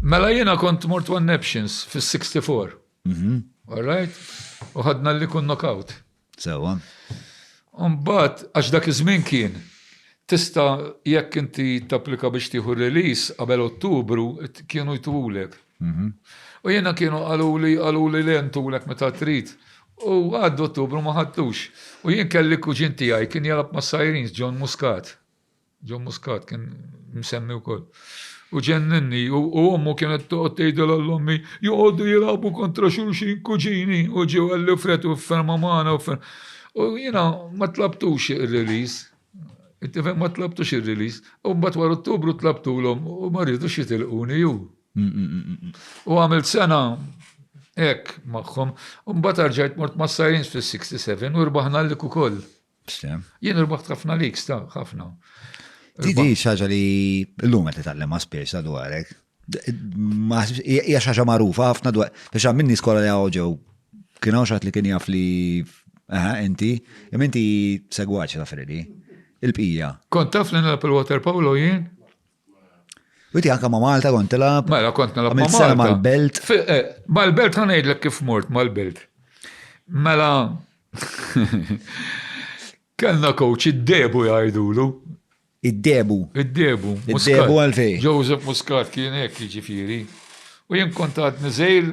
Mela jiena kont mort one naptions fis-64. All right? U ħadna li kun knockout. Sewa. Umbat, għax dak iż-żmien kien, tista jekk inti tapplika biex tieħu release qabel Ottubru, kienu jtuwulek. Mhm. U jiena kienu qaluli, qaluli li jentulek meta trid. U għaddu Ottubru ma ħadtux. U jien kelli kuġin tiegħi kien jalab ma' Sirens, John Muscat. John Muscat kien msemmi wkoll. U ġenninni, u ommu kienet toqgħod tgħidilha l-ommi, joqogħdu jilagħbu kontra xulxin kuġini u ġew għalli fret u ferma magħna u ferma. U jiena ma tlabtux ir-release. Tifhem ma tlabtux ir-release. U mbagħad wara Ottubru tlabtulhom u ma rridux jitilquni ju. U għamilt sena hekk magħhom. U mbagħad arġajt mort ma' Sirens fis-67 u rbaħna l-lik ukoll. Stem. Jien irbaħt ħafna lik, sta, ħafna. Di di xaġa li l-lum għet nitallem għaspiex dwarek. Hija xaġa marufa ħafna dwar. Biex għam minni skola li għawġew. Kien għaw xaħat li kien jaf li inti, imma inti segwaċ ta' Fredi. Il-bqija. Kont taf li nilab il-water polo jien? Witi anka ma' Malta kont tilab. Mela kont nilab ma' Malta. Mal-belt. Eh, mal-belt ħanejdlek kif mort mal-belt. Mela kellna coach id-debu jgħidulu. Id-debu. Id-debu. Id-debu għalfej. Joseph Muscat kien hekk jiġifieri. U jien kont għadni żejr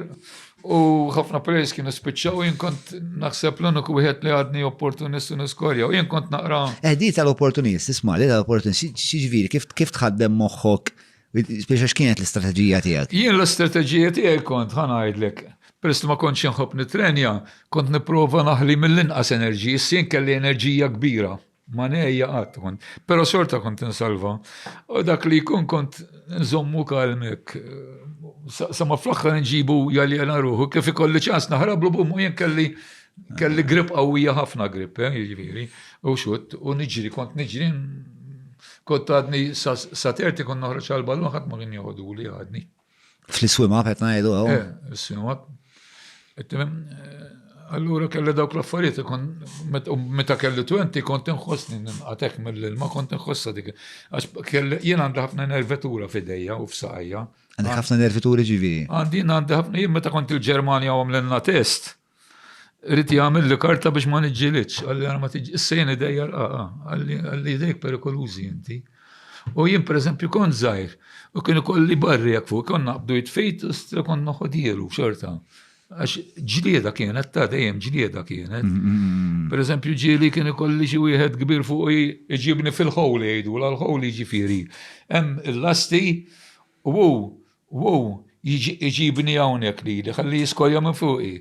u ħafna players kienu spiċċaw u jien kont naħseb l-uniku wieħed li għadni opportunist u niskorja u jien kont naqra. Eħdi tal-opportunist, isma' li tal-opportunist, xiġifieri kif tħaddem moħħok biex għax kienet l-istrateġija tiegħek? Jien l-istrateġija tiegħi kont ħa ngħidlek, peress li ma kontx inħobb nitrenja, kont nipprova naħli mill-inqas enerġija, issa jien kelli enerġija kbira. Ma nejja qatt kont, pero xorta kont insalva. U dak li jkun kont nżommu kalmek. Sama fl-axħar nġibu jaljena ruħu, kif ikolli ċans naħrablu bummu jien kelli kelli grip qawwija ħafna grip, eh, jiġifieri, u xut, u niġri, kont niġri, kont għadni saterti kont noħroġ għal-ballun ħadd ma kien joħodu li għadni. Fl-iswima, qed ngħidu hawn. Eh, is-sinwa. Eh, allura kelli dawk l-affarijiet ikun meta kelli 20 kont inħossni ninqatek mill-ilma kont inħossa dik. Għax kelli jien għandi ħafna nervitura f'idejja u f'saqajja. Għandi ħafna nervituri ġivi. Għandi għandi ħafna jien meta kont il-Ġermanja għamlilna test. Rrit jgħamil li karta biex ma nġilitx, għalli għana ma tiġi, s-sejn idejja l-qaqa, għalli idejk perikolużi inti. U jien per eżempju kont zaħir, u kienu kolli barri għak fuq, konna għabdu jitfejt, u stra konna ħodielu xorta. Għax ġlieda kienet, ta' dejjem ġlieda kienet. Mm, mm, mm, per eżempju ġili kienu kolli xi wieħed kbir fuq iġibni fil-ħowli jgħidu, l-ħowli ġifiri. Hemm il-lasti U hu, u hu jiġi iġibni hawnhekk lili, ħalli jiskojja minn fuqi.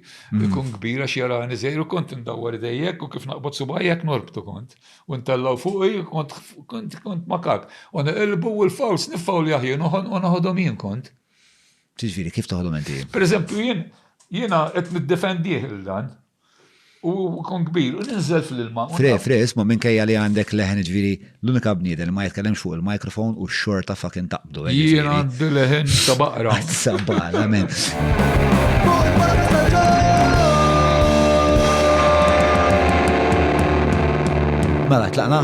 Ikun kbir għax jarani żgħir u kont indawwar idejjek u kif naqbad subgħajja hekk norbtu kont. U ntellgħu fuqi u kont, kont, kont makak. U niqilbu u l-fowls niffawljah jien u noħodhom jien kont. X'jiġifieri kif toħodhom inti? Pereżempju jien, jiena qed niddefendih lil dan. U kun kbir, u ninżel fl-ilma. Fre, fre, isma minkejja li għandek leħen ġviri l-unika bnieden li ma jitkellem fuq il-microphone u xorta fucking taqbdu. Jien għandi leħen ta' baqra. Sabala, men. Mela, tlaqna?